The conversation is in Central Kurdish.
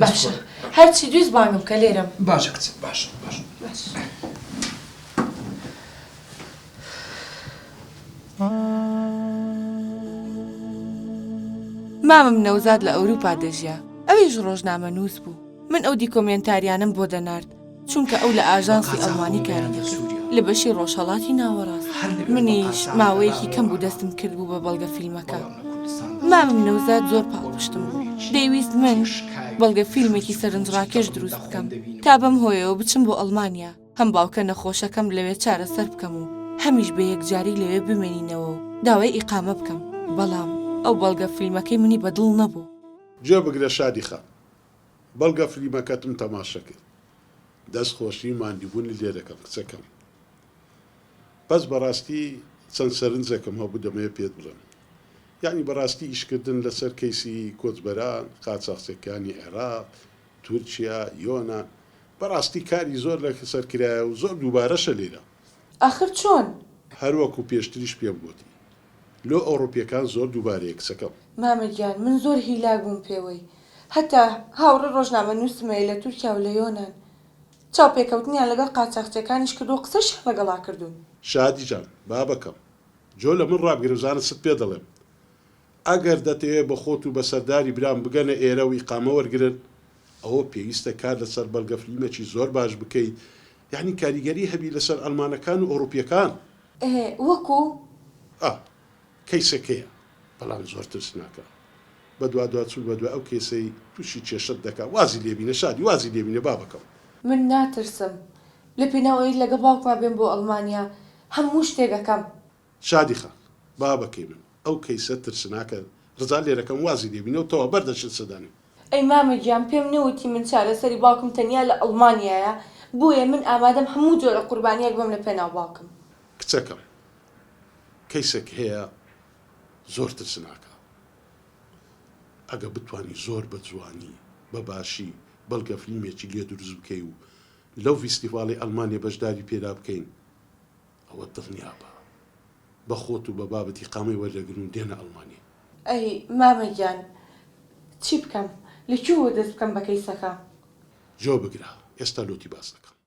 باشە هەرچی دویست بانگم بکە لێرەم. باشە کچم باشە باشە. مامم نەوزاد لە ئەوروپا دەژیا ئەویش ڕۆژنامەنووس بوو من ئەو دیکۆمێنتاریانەم بۆ دەنارد. چونکە ئەو لە ئاژانسی ئەڵمانی کاری دەکرد لە بەشی ڕۆژهەڵاتی ناوەڕاست منیش ماوەیەکی کەم بوو دەستم کرد بوو بە بەڵگە فیلمەکە مامم نەوزاد زۆر پاڵپشتم بوو دەیویست من بەڵگە فیلمێکی سەرنجڕاکێش دروست بکەم تا بەم هۆیەوە بچم بۆ ئەڵمانیا هەم باوکە نەخۆشەکەم لەوێ چارەسەر بکەم و هەمیش بە یەکجاری لەوێ بمێنینەوە و داوای ئیقامە بکەم بەڵام ئەو بەڵگە فیلمەکەی منی بەدڵ نەبوو. گوێ بگرە شادی خان بەڵگە فلیمەکەتم تەماشە کرد. دەست خۆشی ماندیبونی لێ دەکەم کچەکەم بەس بەراستی چەند سەرنجەکم هەبو دەمەوێ پێت بڵێم یەعنی بەراستی ئیش کردن لەسەر کەیسی کۆچبەران قاچاخچەکانی عێراق تورکیا یۆنان بەراستی کاری زۆر لەسەر کرایە و زۆر دوبارەشە لێرە ئاخر چۆن؟ هەر وەکو پێشتریش پێم گۆتی. لۆ ئەوڕوپیەکان زۆر دووبارەیە کچەکەم. مامە گیان من زۆر هیلاک بووم پێوەی هەتا هاوڕێ ڕۆژنامە نوسمەیە لە تورکیا و لە یۆنان چاوپێکەوتنیان لەگەڵ قاچاخچیەکانیش کردوە قسەشیان ڵەگەڵا کردوون. شادی جان بابەکەم جۆ لە من ڕابگرە بزانە چت پێ دەڵێم ئەگەر دەتەوێت بە خۆت و بە سەرداری برام بگەنە ئێرە و ئیقامە وەرگرن، ئەوە پێویستە کار لەسەر بەڵگە فلیمەکی زۆر باش بکەیت یانی کاریگەری هەبی لەسەر ئەڵمانەکان و ئەوڕوپیەکان. ئێ وەکو؟ ئا کەیسەکەیە بەڵام زۆر ترسناکە بەدوادواچون بەدوای ئەو کەیسەی توشی کێشەت دەکات وازی لێبینە شادی وازی لێبینە بابەکەم. من ناترسم لەپێناو ئەوەی لەگەڵ باوکما بێم بۆ ئەڵمانیا هەموو شتێک ئەکەم شادی خان، بابەکەی من ئەو کەیسە ترسناکە ڕزا لێرەکەم وازی لێبینەو تەوا بەر دەچێت سەدانی. ئەی مامە گیان پێم نەوتی من چارەسەری باوکم تەنیا لە ئەڵمانیایە بۆیە من ئامادەم هەموو جۆرە قوربانیەک بەم لە پێناو باوکم. کچەکەم کەیسەک هەیە زۆر ترسناکە ئەگە بتوانی زۆر بە جوانی بە باشی بەڵگە فلیمێکی لێ دروست بکەی و لەو ڤیستیڤاڵی ئەڵمانیە بەشداری پێدا بکەین ئەوە دڵنیابە بە خۆت و بە بابت ئیقامەی وەردەگرن و دێنە ئەڵمانیا. ئەی مامە گیان چی بکەم؟ لە کوێوە دەست بکەم بە کەیسەکە؟ جوابگرە ئێستا لۆتی باس دەکەم.